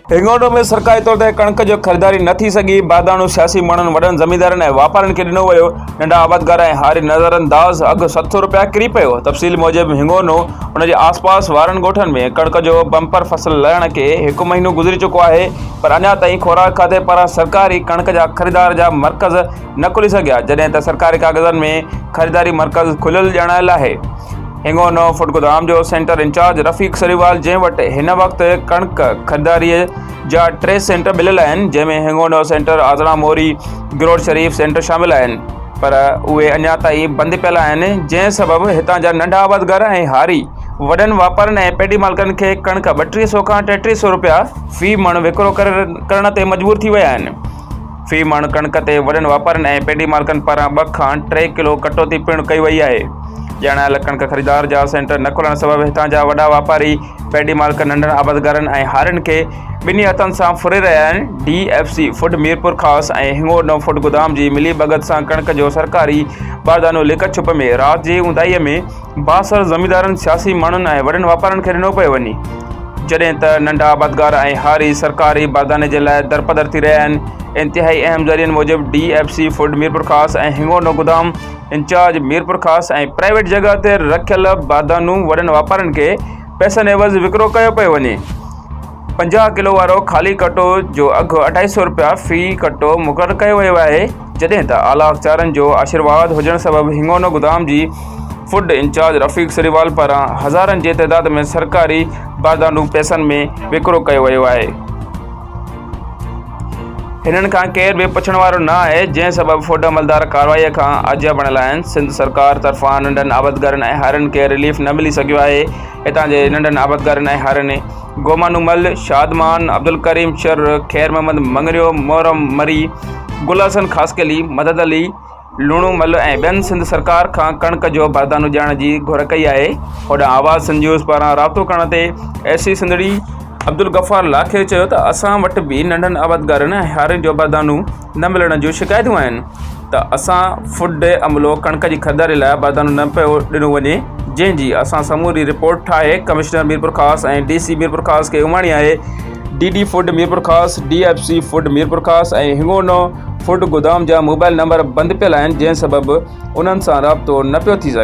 هنڱوٽو ۾ سرڪاري طور تي ڪڻڪ جو خريداري نه ٿي سگهي، باداڻو سياسي ماڻهن، وڏن زميندارن ۽ واپارين کي ڏنو ويو، ننڍا آبادگار ۽ هاري نظرانداز، اگهه ست سؤ رپيا ڪري پيو، تفصيل موجب هنڱونو ۽ ان جي آسپاس وارن ڳوٺن ۾ ڪڻڪ جو بمپر فصل لهڻ کي هڪ مهينو گذري چڪو آهي، پر اڃا تائين خوراڪ کاتي پاران سرڪاري ڪڻڪ جا خريدار جا مرڪز نه کلي سگهيا جڏهن ته سرڪاري ڪاغذن ۾ خريداري مرڪز کليل ڄاڻايل آهي هنگونو فوڊگودام جو سينٽر انچارج رفيق سريوال جنهن وٽ هن وقت ڪڻڪ خريداري جا ٽي سينٽر مليل آهن جنهن ۾ هنگونو سينٽر آزڙان موري گروڊ شريف سينٽر شامل آهن پر اهي اڃا تائين بند پيل آهن جنهن سبب هتان جا ننڍا آبادگار ۽ هاري وڏن واپارين ۽ پيڊي مالڪن کي ڪڻڪ ٻٽيهه سئو کان ٽيٽيهه سئو رپيا في مڻ وڪرو ڪرڻ تي مجبور ٿي ويا آهن. في مڻ ڪڻڪ تي وڏن واپارين ۽ پيڊي مالڪن پاران ٻه کان ٽي ڪلو ڪٽوتي پڻ ڪئي وئي آهي. ڄاڻايل ڪڻڪ خريدار جا سينٽر نه کلڻ سبب هتان جا وڏا واپاري، پيڊي مالڪ، ننڍن آبادگارن ۽ هارين کي ٻنهي هٿن سان ڦري رهيا آهن. D F C food Mirpurkhas ۽ Hingorno food گودام جي ملي ڀڳت سان ڪڻڪ جو سرڪاري باردانو لڪ ڇپ ۾ رات جي اونداهي ۾ بااثر زميندارن، سياسي ماڻهن ۽ وڏن واپارين کي ڏنو پيو وڃي، جڏهن ته ننڍا آبادگار ۽ هاري سرڪاري باغاني جي لاء درپدر ٿي رهيا آهن. انتهائي اهم ذريعن موجب D F C food Mirpurkhas ۽ Hingorno گدام انچارج ميرپورخاص ۽ پرائيويٽ جڳهه تي رکيل باغانو وڏن واپارين کي پئسن عيوض وڪرو ڪيو پيو وڃي. پنجاهه ڪلو وارو خالي ڪٽو جو اگهه اڍائي سئو رپيا في ڪٽو مقرر ڪيو ويو آهي جڏهن ته اعليٰ اختيارين جو آشيرواد هجڻ سبب هنگونو گدام جي فوڊ انچارج رفيق سريوال پاران هزارن جي تعداد ۾ سرڪاري باردانو پئسن ۾ وڪرو ڪيو ويو آهي هنن کان ڪير به پڇڻ وارو نه آهي جنهن سبب فوڊ عملدار ڪارروائي کان آجيا بڻيل آهن سنڌ سرڪار طرفان ننڍن آبدگارن ۽ هارين کي رليف نه ملي سگهيو آهي هتان جي ننڍن آبدگارن ۽ هارين گومانومل، شادمان، عبدالڪريم شر، خير محمد مڱريو، محرم مري، گل حسن خاصخيلي، مدد علي لوڻومل ۽ ٻين سنڌ سرڪار کان ڪڻڪ جو باردانو ڏيارڻ جي گهر ڪئي آهي. هوڏانهن آواز نيوز پاران رابطو ڪرڻ تي اي سي سنڌڙي عبدالغفار لاکير چيو ته اسان وٽ به ننڍن آبادگارن ۽ هارين جو باردانو نه ملڻ جون شڪايتون آهن ته اسان فوڊ ڊي عملو ڪڻڪ جي خريداري لاء بردانو نه پيو ڏنو وڃي جنهن جي اسان سموري رپورٽ ٺاهي commissioner Mirpurkhas ۽ D C Mirpurkhas کي اماڻي آهي D D food Mirpurkhas D F C food Mirpurkhas ۽ Hingorno food گودام جا موبائل نمبر بند پيل آهن جنهن سبب انهن سان رابطو نه پيو ٿي سگهي.